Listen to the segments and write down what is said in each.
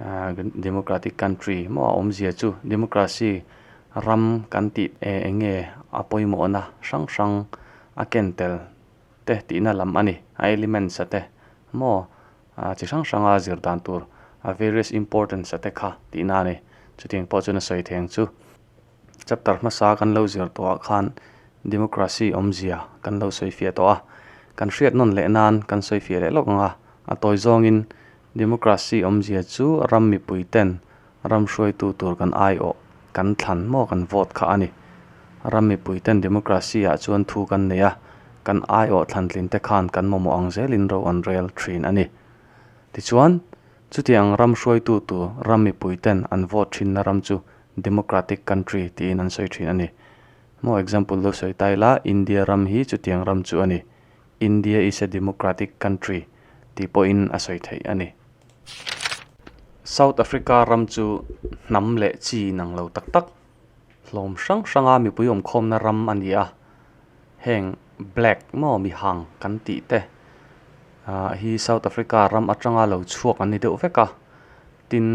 ahh democratic country maw a awmzia chu democracy ram kan tih eh eng nge a pawimawhna hrang hrang a ken tel te tihna lam a ni a elements te maw ahh chi hrang hrang a zir dan tur a various importance te kha tihna a ni chutiang pawh chu na sawi theng chu. Chapter hmasa kan lo zir tawhah khan Democracy awmzia kan lo sawi fiah tawh a, kan hriat nawn leh nan kan sawi fiah leh lawk ang a. A tawi zawngin Democracy awmzia chu ram mipui ten ram hruaitu tur kan aiawh, kan thlan maw kan vote kha a ni. Ram mipui ten Democracy ah chuan thu kan nei a, kan aiawh thlantlin te khan kan mamawh ang zelin ro an rel thin a ni. Tichuan. Chutiang ram hruaitu tu ram mipuiten an vote thinna ram chu democratic country tiin an sawi thin a ni. Maw example lo sawi ta ila, India ram hi chutiang ram chu a ni. India is a democratic country tih pawhin a sawi theih a ni. South Africa ram chu hnam leh chi inang lo tak tak. Hlawm hrang hranga mipui awmkhawmna ram a ni a, heng black maw mihang kan tih te ah hi South Africa ram atanga lo chhuak an ni deuh vek a, tin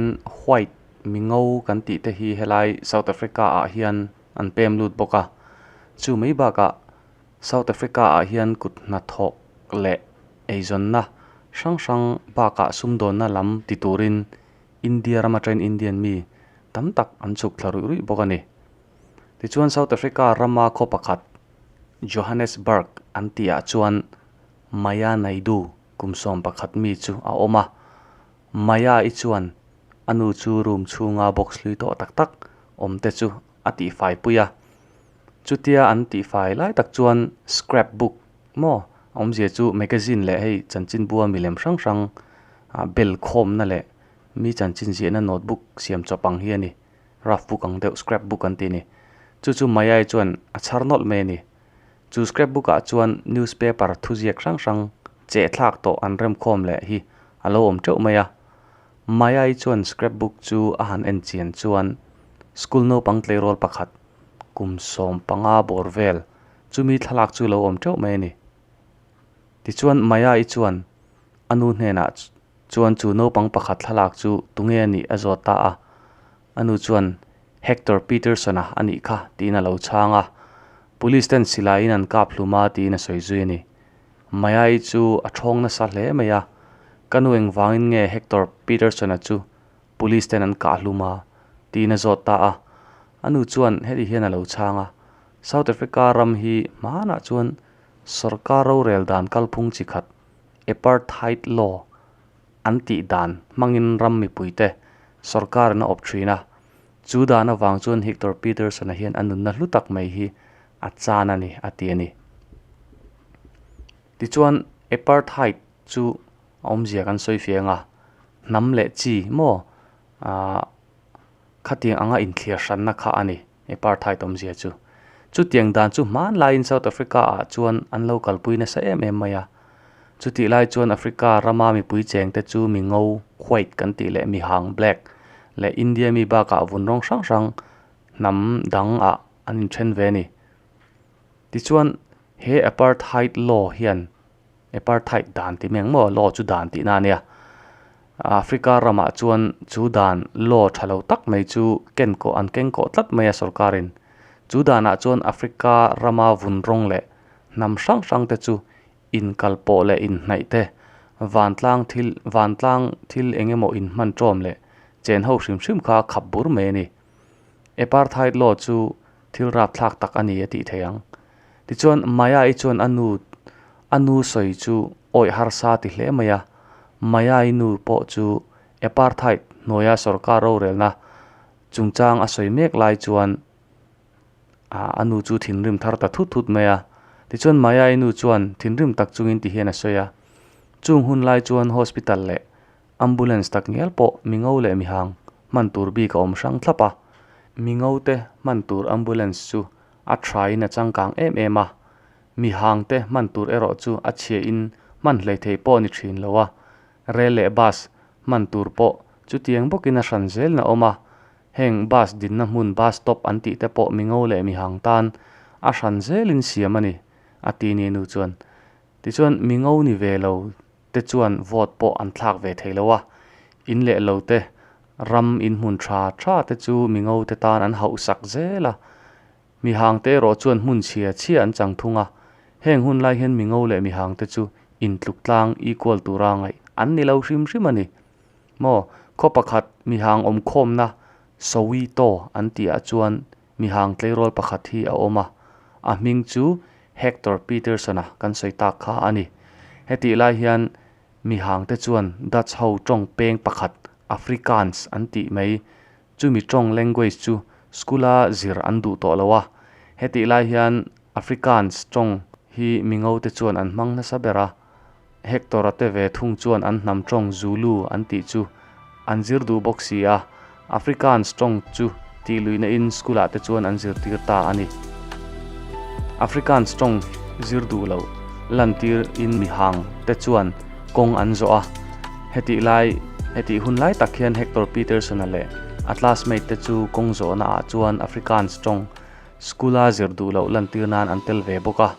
white mingo kan tih te hi helai South Africa ah hian an pem lut bawk a, chu mai bakah South Africa ah hian kut hnathawk leh eizawnna hrang hrang bakah sumdawnna lam ti turin India ram atangin Indian mi tam tak an chhuk thla ruih ruih bawk a ni. Tichuan South Africa rama khaw pakhat Johannesburg an tihah chuan Maya Naidu kum sawm pakhat mi chu a awm a, Maya i chuan a nu chu room chhunga box hlui tawh tak tak awm te chu a tihfai pui a. Chutia an tihfai lai tak chuan scrapbook Maw? A awmzia chu magazine leh hei chanchin bua milem hrang hrang ah bel khawmna leh mi chanchin ziahna notebook siam chawp ang hi a ni. Rough book ang deuh, scrap book an tih a ni. Chu chu Maya-i chuan a chhar nawlh mai a ni. Chu scrap book ah chuan newspaper thuziak hrang hrang chehthlak tawh an rem khawm leh hi a lo awm teuh mai a. Maya-i chuan scrap book chu a han en chian chuan school naupang tleirawl pakhat kum sawm panga bawr vel Chumi thlalak chu lo awm teuh mai a ni. Tichuan Maya-i chuan a nu hnenah chuan chu naupang pakhat thlalak chu tunge a nih a zawt ta a, a nu chuan Hector Peterson-a a nih kha tiin a lo chhang a. Police ten silaiin an kap hlum a tiin a sawi zui a ni. Maya-i chu a ṭhawng nasa hle mai a, ka nu eng vangin nge Hector Peterson-a chu Police ten an kah hlum a tiin a zawt ta a, a nu chuan heti hian a lo chhang a, South Africa ram hi hmanah chuan sorkar rorel dan kalphung chi khat, apartheid law, an tih dan hmangin ram mipuite sorkar in a awp thin a. Chu dan avang chuan Hictor Peterson-a hian a nunna hlu tak mai hi a chan a ni a ti a ni. Tichuan, apartheid chu a awmzia kan sawi fiang a, hnam leh chi maw khatiang anga inthliar hranna kha a ni apartheid awmzia chu. Chutiang dan chu hmanlaiin South Africa ah chuan an lo kalpui nasa em em mai a. Chutih lai chuan Africa rama mipui chengte chu mi ngo, white, kan tih leh mi hang, black, leh India mi bakah vun rawng hrang hrang hnam dang ah an inthen ve a ni. Tichuan, he apartheid law hian Apartheid dan ti meng maw law chu dan tihna ania. Africa ramah chuan chu dan law tha lo tak mai chu ken kaw an keng kaw tlat mai a sorkarin. Chu danah chuan Africa rama vun rawng leh hnam hrang hrang te chu inkalpawh leh inhnaih te, vantlang thil vantlang thil engemaw inhman tawm leh chenho hrim hrim kha khap bur mai a ni. Apartheid law chu thil rapthlak tak a ni a tih theih ang. Tichuan Maya-i chuan a nu, a nu sawi chu awih harsa ti hle mai a. Maya-i nu pawh chu Apartheid hnuaia sawrkar rorelna chungchang a sawi mek lai chuan ah a nu chu thinrim thar ta thut thut mai a. Tichuan Maya-i nu chuan thinrim tak chungin ti hian a sawi a, chung hun lai chuan hospital leh. Ambulance tak ngial pawh mingo leh mihang hman tur bik a awm hrang thlap a, mingo te hman tur ambulance chu a tha in a changkang em em a, mihang te hman tur erawh chu a chhia in hman hlei thei pawh a ni thin lo a, rail leh bus hman tur pawh chutiang bawk in a hran zel na awm a, heng bus din na hmun bus stop an tih te pawh mingo leh mihang tan a hran zel in siam a ni, a ti ni nu chuan. Tichuan mingo ni ve lo te chuan vote pawh an thlak ve thei lo a, in leh lo te, ram in hmun tha tha te chu Mingo te tan an hauh sak zel a, mi hang te erawh chuan hmun chhia chhia an chang thung a, heng hun lai hian Mingo leh mi hang te chu in tluk tlang equal tura ngaih an ni lo hrim hrim a ni maw, khaw pakhat mi hang awm khawmna Sowi taw an tih ah chuan mi hang tleirawl pakhat hi a awm a, a hming chu Hector Peterson a kan sawi tak kha a ni. Hetih lai hian mi hangte chuan Dutch ho tawng peng pakhat Afrikaans an tih mai, chumi tawng language chu school a zir an duh tawh lo a, hetih lai hian Afrikaans tawng hi mi ngote chuan an hmang nasa ber a. Hector-a te ve thung chuan an hnam tawng Zulu an tih chu an zir duh bawk si a, Afrikaans tawng chu tih luihnain school-ah te chuan an zirtir ta a ni. Afrikaans tawng zir duh loh lantirin mihang te chuan kawng an zawh a, hetih lai hetih hun lai tak hian Hector Peterson-a leh a classmate te chu kawng zawhnaah chuan Afrikaans tawng school-a zir duh loh lantir nan an tel ve bawk a.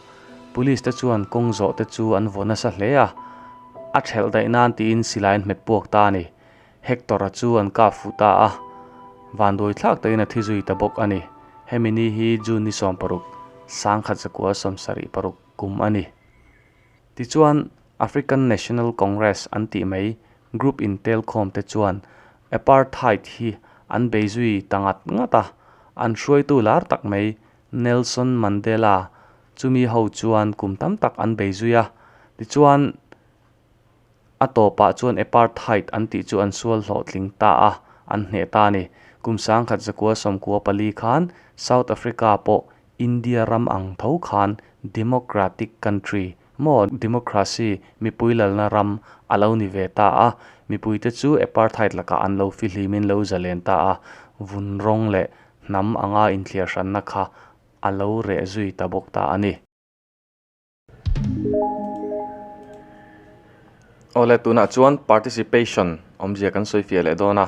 Police te chuan kawng zawh te chu an vaw nasa hle a, a ṭhelh daih nan tiin silai an hmet puak ta a ni. Hector-a chu an kap fuh ta a, vanduai thlak takin a thi zui ta bawk a ni. Hemi ni hi June ni sawm paruk, sangkhat zakua sawm sarih paruk kum a ni. Tichuan, African National Congress an tih mai group in telkhawm te chuan Apartheid hi an bei zui ta ngat ngat a, an hruaitu lar tak mai Nelson Mandela chumi ho chuan kum tam tak an bei zui a, tichuan a tawpah chuan Apartheid an tih chu an sual hlawh tling ta a, an hneh ta a ni. Kum sangkhat zakua sawmkua pali khan South Africa pawh India ram ang tho khan Democratic country maw Democracy mipui lalna ram a lo ni ve ta a, mipuite chu Apartheid lakah an lo fihlim in lo zalen ta a, vun rawng leh hnam anga inthiarhranna kha a lo reh zui ta bawk ta a ni. Awle tunah chuan participation awmzia kan sawifiah leh dawn a,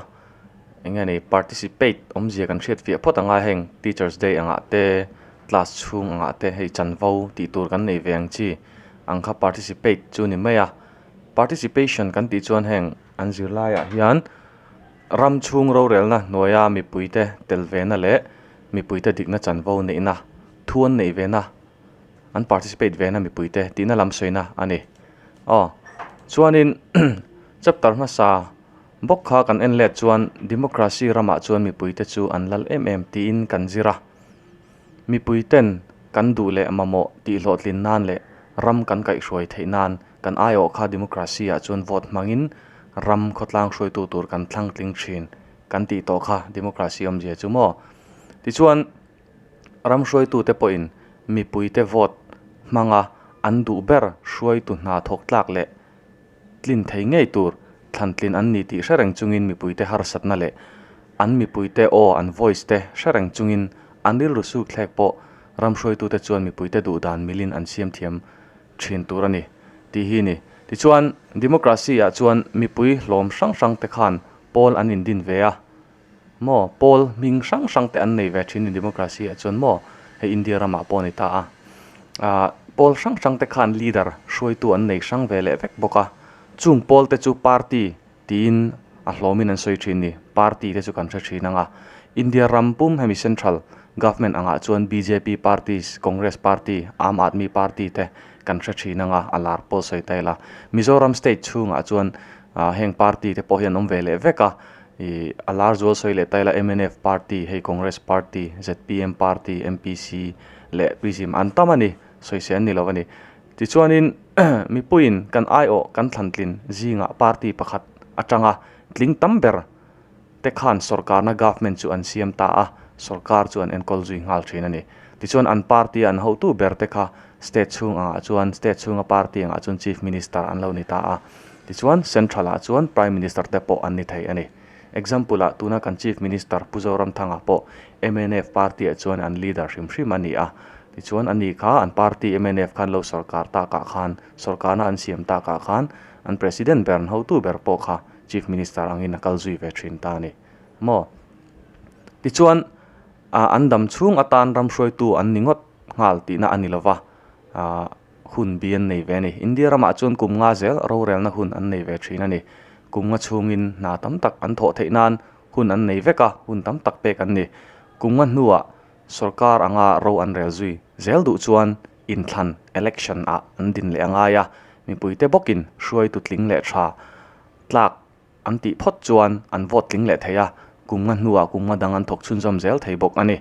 eng nge ni, participate awmzia kan hriatfiah phawt anga heng Teacher's Day angah te, class chhung angah te hei chanvo tih tur kan nei ve ang chi ang kha participate chu ni mai a. Participation kan tih chuan heng an zirlaiah hian. Ram chhung rorelna hnuaia mipuite tel ve na leh mipuite dikna chanvo neihna, thu an neih ve na, an participate ve na mipuite tihna lam sawi na a ni. Aw chuanin chapter hmasa bawk kha kan en let chuan democracy ramah chuan mipuite chu an lal em em tiin kan zir a. Mipuiten kan duh leh mamawh tihhlawhtlin nan leh ram kan kaihhruai theih nan, Kan aiawh kha democracy ah chuan vote hmangin ram khawtlang hruaitu tur kan thlangtling thin kan tih tawh kha democracy awmzia chu maw? Tichuan, ram hruaitute pawhin mipuite vote hmanga an duh ber hruaitu hna thawktlak leh tlin thei ngei tur thlantlin an ni tih hrereng chungin mipuite harsatna leh an mipuite aw an voice te hrereng chungin an rilru sukthlek pawh ram hruaitute chuan mipuite duh dan milin an siam thiam thin tur a ni tih hi ni. Tichuan, Democracy-ah chuan mipui hlawm hrang hrang te khan pawl an indin ve a maw? Pawl hming hrang hrang te an nei ve thin a ni Democracy-ah chuan maw? Hei India ramah pawh a ni ta a. Aah pawl hrang hrang te khan leader, hruaitu an nei hrang ve leh vek bawk a. Chung pawl te chu party tiin a hlawmin an sawi thin ni. Party te chu kan hre thin ang a. India ram pum hemi central government angah chuan bjp party, congress party, aam aadmi party te kan hre thin ang a, a lar pawl sawi ta ila. Mizoram state chhungah chuan heng party te pawh hi an awm ve leh vek a, ih a lar zual sawi leh ta ila mnf party hei congress party, zpm party, mpc leh prizim an tam a ni, sawi se an ni lo a ni. Tichuanin, mipuiin kan aiawh kan thlantlin zingah party pakhat atanga tling tam ber te khan sorkarna, government, chu an siam ta a, sorkar chu an enkawl zui nghal thin a ni. Tichuan an party an hotu ber te kha state chhung angah chuan, state chhunga party angah chuan chief minister an lo ni ta a, tichuan central ah chuan prime minister te pawh an ni thei a ni. Example ah tuna kan chief minister Pu Zoramthanga pawh mnf party ah chuan an leader hrim hrim a ni a, Tichuan, ani kha an party mnf khan lo sawrkar takah khan, sawrkarna an siam takah khan an President ber an hotu ber pawh kha Chief Minister angin a kal zui ve thin ta a ni maw? Tichuan, an dam chhung atan ram hruaitu an ni ngawt nghal tihna a ni lova hun bi an nei ve a ni. India ramah chuan kum nga zel rorelna hun an nei ve thin a ni. Kum nga chhungin hna tam tak an thawh theih nan hun an nei vek a, hun tam tak pek an ni. Kum nga hnuah Sorkar anga ro an rel zui zel duh chuan inthlan, election, ah an din leh a ngai a, mipuite bawkin hruaitu tling leh tha tlak an tih phawt chuan an vote tling leh thei a, kumnga hnuah kumnga dang an thawk chhunzawm zel thei bawk a ni.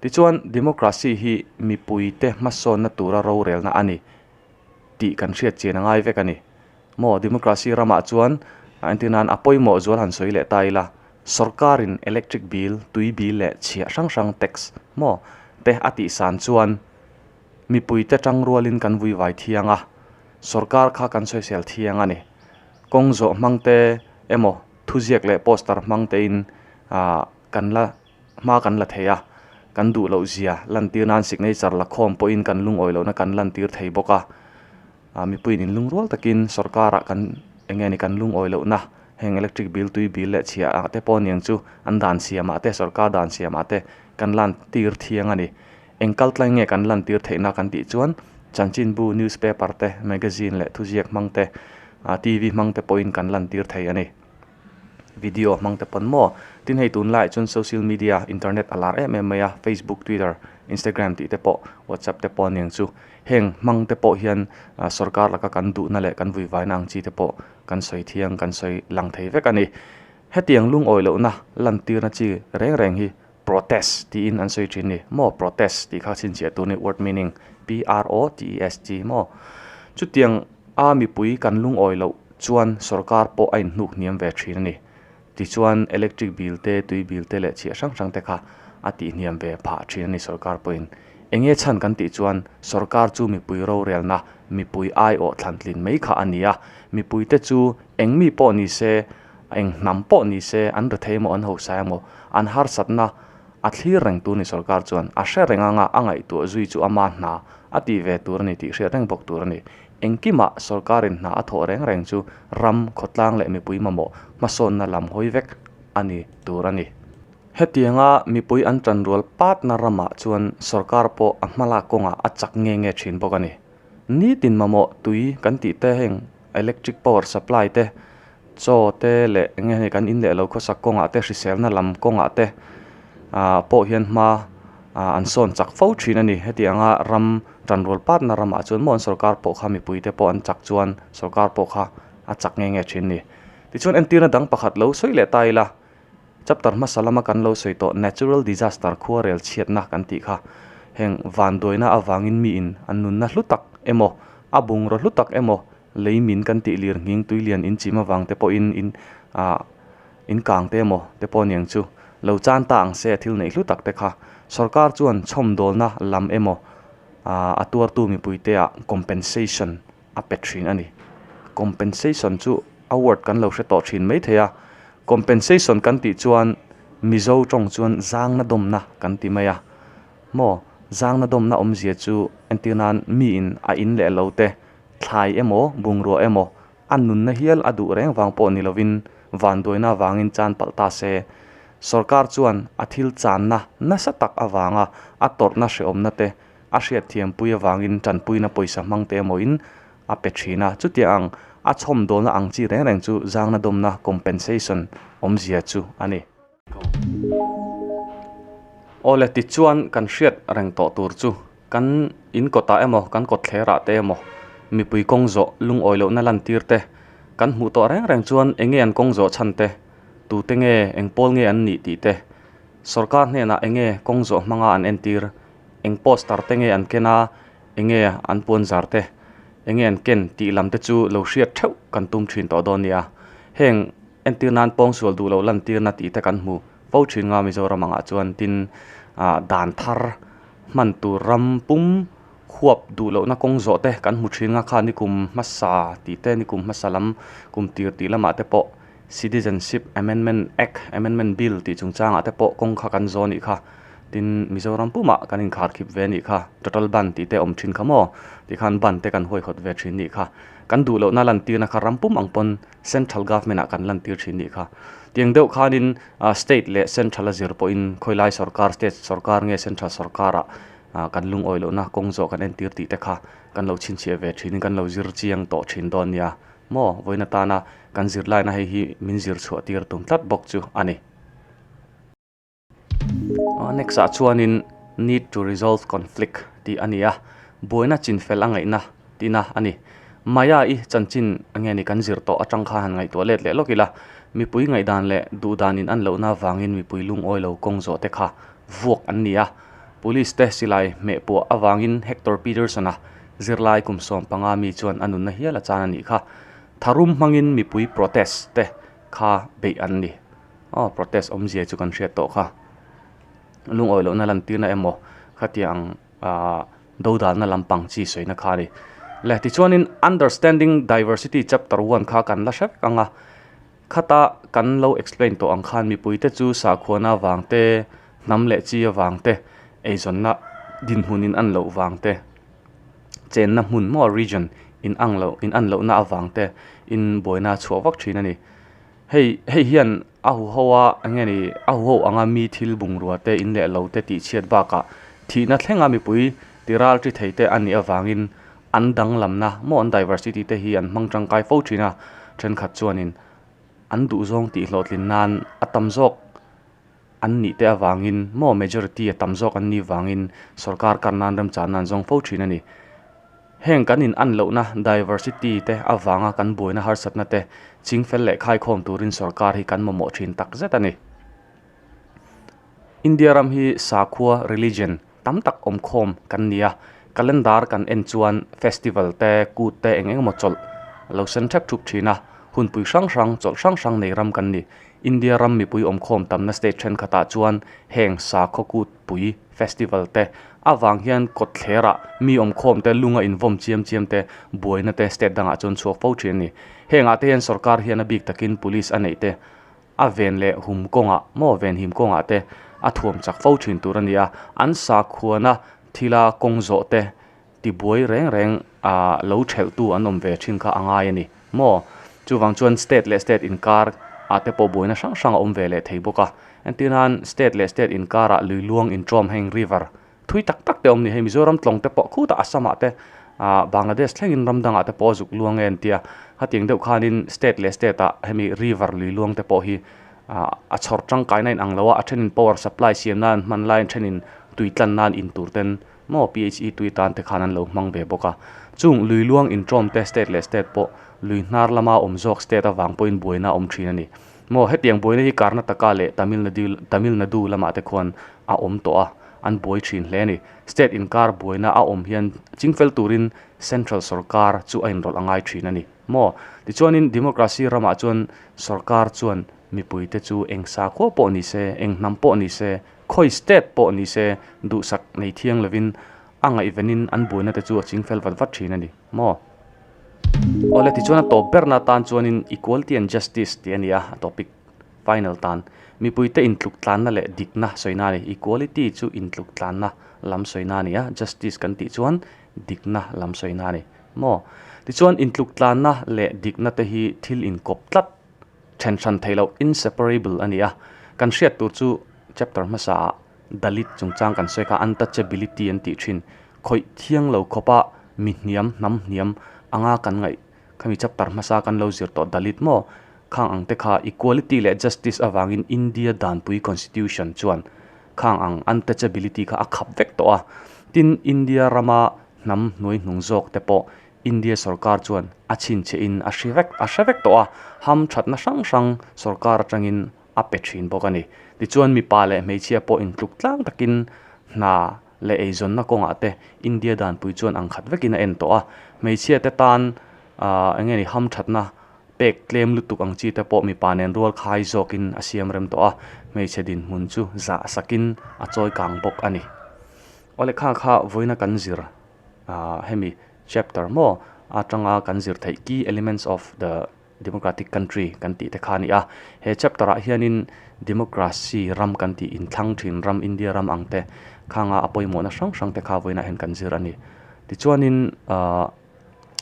Tichuan democracy hi mipuite hmasawnna tura rorelna a ni tih kan hriatchian a ngai vek a ni. Maw democracy ramah chuan a entinain a pawimawh zual han sawi leh ta ila, sorkarin electric bill, tui bill leh chhia hrang hrang tax maw te a tihsan chuan mipuite tang rualin kan vui vai thiang a, sorkar kha kan sawisel thiang a ni. Kawng zawh hmangte emaw thuziak leh poster hmangtein kan la hma kan la thei a, kan duhlohzia lantir nan signature lakhawm pawhin kan lungawi lohna kan lantir thei bawk a. ah mipuiin in lung rual takin sorkar ah kan eng nge ni kan lungawi loh na heng electric bill tui bill leh chhia ah te pawh aniang chu an dan siam ah te sorkar dan siam ah te kan lan tir thiang ani eng kal tlai nge kan lan tir theih na kan tih chuan chanchinbu news paper te magazine leh thuziak hmang te ah TV hmang te pawhin kan lan tir thei ani. Video hmang te pawn maw? Tin hei tun lai chuan social media, internet a lar em em mai a, Facebook, Twitter, Instagram tih te pawh, WhatsApp te pawh aniang chu. Heng hmang te pawh hian sorkar laka kan duhna leh kan vuivaina ang chi te pawh kan sawi thiang, kan sawi lang thei vek a ni. Hetiang lungawi lohna lantirna chi reng reng hi Protest tiin an sawi thin ni. Maw protest tih kha chhinchhiah tur ni word meaning PROTEST maw? Chutiang a mipui kan lungawi loh chuan sorkar pawh a inhnuk hniam ve thin a ni. Tichuan electric bill te tui bill te leh chhiah hrang hrang te kha a tih hniam ve phah thin a ni sorkar pawhin. Enge chhan kan tih chuan sorkar chu mipui rorelna mipui aiawh thlantlin mai kha a ni a. Mipuite chu eng mi pawh ni se A eng hnam pawh ni se, an rethei emaw, an hosai emaw, an harsatna a thlir reng tur ni sorkar chuan a hre reng anga a ngaihtuah zui chu ama hna a tih ve tur a ni tih hriat reng bawk tur a ni. Engkimah sorkarin hna a thawh reng reng chu ram, khawtlang leh mipui mamawh hmasawnna lam hawi vek a ni tur a ni. Hetianga mipui an tanrual patna ramah chuan sorkar pawh a hmalak kawngah a chak nge nge thin bawk a ni. Nitin mamawh tui kan tih te heng electric power supply te chaw te leh eng nge kan in leh lo khawsak kawng ah te hriselna lam kawng ah te ah pawh hian hma ah an sawn chak fo thin a ni heti anga ram tanrawl pat na ram ah chuan maw an sawrkar pawh kha mipui te pawh an chak chuan sawrkar pawh kha a chak nge nge thin a ni tichuan entir na dang pakhat lo sawi leh ta ila. Chapter hmasa lama kan lo sawi tawh Natural Disaster khuarel chhiatna kan tih kha heng vanduaina avangin miin an nunna hlu tak emaw, a bungraw hlu tak emaw lei min kan tih lir nghing tui lian in chim avang te pawhin in ah in kang te emaw te pawh aniang chu lo chan ta ang se a thil neih hlu tak te kha sorkar chuan chhawmdawlna lam emaw ah a tuartu mipuite ah compensation a pe thin a ni compensation chu award kan lo hre tawh thin mai thei a compensation kan tih chuan mizo tawng chuan zangna dawmna kan ti mai a maw zangna dawmna awmzia chu entir nan mi in a in leh lo te thlai emaw bungrua emaw a nunna hial a duh reng vang pawh ni lovin vanduaina avangin chan palh ta se sorkar chuan a thil channa nasa tak avanga a tawrhna hrehawmna te a hriatthiampui avangin tanpuina pawisa hmangte emawiin a pe thin a, chutia ang a chhawm dawlna ang chi reng reng chu zangna dawmna, compensation, awmzia chu a ni. Awle tichuan kan hriat reng tawh tur chu kan inkawtah emaw kan kawtthlerah te emaw mipui kawng zawh lungawi lohna lantir te kan hmuh tawh reng reng chuan enge an kawng zawh chhan te, tute nge engpawl nge an nih tih te, sorkar hnenah enge kawng zawh hmanga an entir eng poster te nge an ken a enge an puan zar te enge an ken tih lam te chu lo hriat theuh kan tum thin tawh dawn nia heng entir nan pawng sual duh loh lantir na tih te kan hmu fo thin nga Mizoram angah chuan tin ah dan thar hman tur ram pum huap duh lohna kawng zawh te kan hmu thin nga kha nikum hmasa tih te nikum hmasa lam kum tir tih lamah te pawh-- Citizenship Amendment Act, Amendment Bill, tih chungchangah te pawh kawng kha kan zawh a nih kha. Tin, Mizoram pumah kan inkhar khip ve a nih kha. Total ban tih te awm thin kha maw? Tih khan ban te kan huaihawt ve thin a nih kha. Kan duh lohna lantirna kha ram pum ang pawn Central Government ah kan lantir thin a nih kha. Tiang deuh khanin State leh Central a zir pawhin Khawilai Sorkar, State Sorkar nge Central Sorkar ah kan lungawi lohna kawng zawh kan entir tih te kha kan lo chhinchhiah ve thinin kan lo zir chiang tawh thin dawn a nia. maw vawiin atana kan zirlaina hei hi min zirchhuah tir tum tlat bawk chu a ni. Next ah chuanin need to resolve conflict tih a ni a, buaina chinfel a ngaihna tihna a ni. Maya i chanchin nge ni kan zir tawh atang kha han ngaihtuah let leh lawk ila, mipui ngaihdan leh duhdan in an lohna avangin mipui lungawi lo kawng zawhte kha vuak an ni a. Police te silai hmehpuah avangin Hector Peterson-a Zirlai kum sawm panga mi chuan a nunna hial a chan a nih kha. Tharum hmangin mipui protest te kha beih an ni. Aw protest awmzia chu kan hriat tawh kha. Lungawi lohna lantirna emaw khatiang do dalna lampang chi sawi na kha a ni. Le tichuanin Understanding Diversity Chapter One kha kan la hre vek ang a. Khata kan lo explain tawh ang khan mipui te chu sakhuana vang te, hnam leh chi avang te, eizawnna dinhmun in an loh vang te, chenna hmun maw region in ang loh in an lohna avang te in buaina a chhuah vak thin a ni. Hei hei hian a huhau a enge ni a huhau ang a mi thil bungrua te in leh lo te tihchhiat bakah thihna thlenga mipui ti ralṭi thei te a nih avangin An danglamna mawh'n diversity te hi an hmang tangkai fo thin a, thenkhat chuanin an duhzawng tih hlawhtlin nan a tam zawk an nih te avangin maw majority a tam zawk an nih vangin sorkar kar nan remchah nan zawng fo thin a ni. Heng kan in an lohna diversity te avanga kan buaina harsatna te ching fel leh khaikhawm turin sorkar hi kan mamawh thin tak zet a ni. India ram hi sakhua, religion, tam tak awm khawm kan ni a calendar kan en chuan festival te kut te eng eng maw chawlh a lo sen thap thup thin a hunpui hrang hrang chawlh hrang hrang nei ram kan ni india ram mipui awm khawm tam na state thenkhat ah chuan heng sakhaw kut pui festival te avang hian kawtthler ah mi awm khawm te lung a invawn chiam chiam te buai na te state dang ah chuan chhuak fo thin a ni heng ah te hian sorkar hian a bik tak in police a neih te. a ven leh hum kawngah maw ven him kawngah te a thuam chak fo thin tur a ni a an sakhuana thila kawng zawh te tibuai reng reng ah lo thelh tu an awm ve thin kha a ngai a ni maw chuvang chuan state leh state inkar ah te pawh buaina hrang hrang a awm ve leh thei bawk a entirhan state leh state inkar ah lui luang in tawm heng river thui tak tak te awm ni hei mizoram tlawng te pawh khutah assamah te ah bangladesh thlengin ram dangah te pawh a zuk luang e an tia hetiang deuh khanin state leh state ah hemi river lui luang te pawh hi ah a chhawr tangkaina a inang lo a a thenin power supply siamna an hman lai a thenin tui tlanna an in tur ten maw p h e tui tan te khan an lo hmang ve bawk a chung lui luang inṭawm te state leh state pawh lui hnar lama awm zawk state avang pawhin buaina a awm thin a ni. Maw hetiang buaina hi Karnataka leh Tamil Nadu lamah te khuan a awm tawh a, an buai thin hle a ni. State inkar buaina a awm hian chingfel turin Central sorkar chu a inrawlh a ngai thin a ni maw. Tichuanin Democracy ramah chuan sorkar chuan mipui te chu eng sa khuaw pawh ni se, eng hnam pawh ni se, khawi state pawh ni se duhsak nei thiang lovin a ngaihvenin an buaina te chu a chingfel vat vat thin a ni. maw? Awle tichuan a tawp berna atan chuanin equality and justice tih a ni a, a topic final tan. Mipuite intluktlanna leh dikna sawina a ni. Equality chu intluktlanna lam sawina a ni a, justice kan tih chuan dikna lam sawina a ni maw? Tichuan intluktlanna leh dikna te hi thil inkawp tlat, thenhran theih loh, inseparable, a ni a. Kan hriat tur chu chapter hmasaah. Dalit chungchang kan sawi kha untouchability an tih thin. Khawih thiang lo khawpa mi hniam, hnam hniam anga kan ngaih khami chapter hmasa kan lo zir tawh Dalit maw khang ang te kha equality leh justice avangin India danpui constitution chuan khang ang untouchability kha a khap vek tawh a. Tin India rama hnam hnuai hnung zawk te pawh India sorkar chuan a chhinchhe in a hre vek a hre vek tawh a. Ham thatna hrang hrang sorkar atangin a pe thin bawk a ni. Tichuan mipa leh hmeichhia pawh intluk tlang takin hna leh eizawnna kawngah te India danpui chuan ang khat vekin a en tawh a. Hmeichhia te tan aah enge ni hamthatna pek tlem lutuk ang chi te pawh mipa nen rual khai zawkin a siam rem tawh a, hmeichhe dinhmun chu zah sakin a chawi kang bawk a ni. Aw lekha kha vawiina kan zir aah hemi chapter maw atanga kan zir theih ki elements of the Democratic country kan tih te kha a ni a, he chapter ah hianin Democracy ram kan tih inthlang thin ram India ram ang te khanga a pawimawhna hrang hrang te kha vawiinah hian kan zir a ni. Tichuanin aah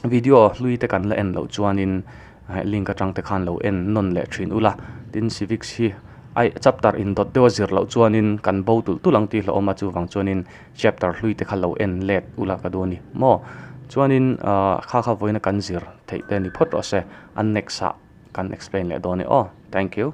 video hlui te kan la en loh chuanin heh link atang te khan lo en nawn leh thin ula, tin civics hi ai chapter indawt deuha zir loh chuanin kan bo tulh tulh ang tih hlauhawm a chuvang chuanin. Chapter hlui te kha lo en let ula ka duh a ni maw? Chuanin ahh kha kha vawiin a kan zir theih te a ni phawt rawh se. A next ah kan explain leh dawn e aw. Thank you.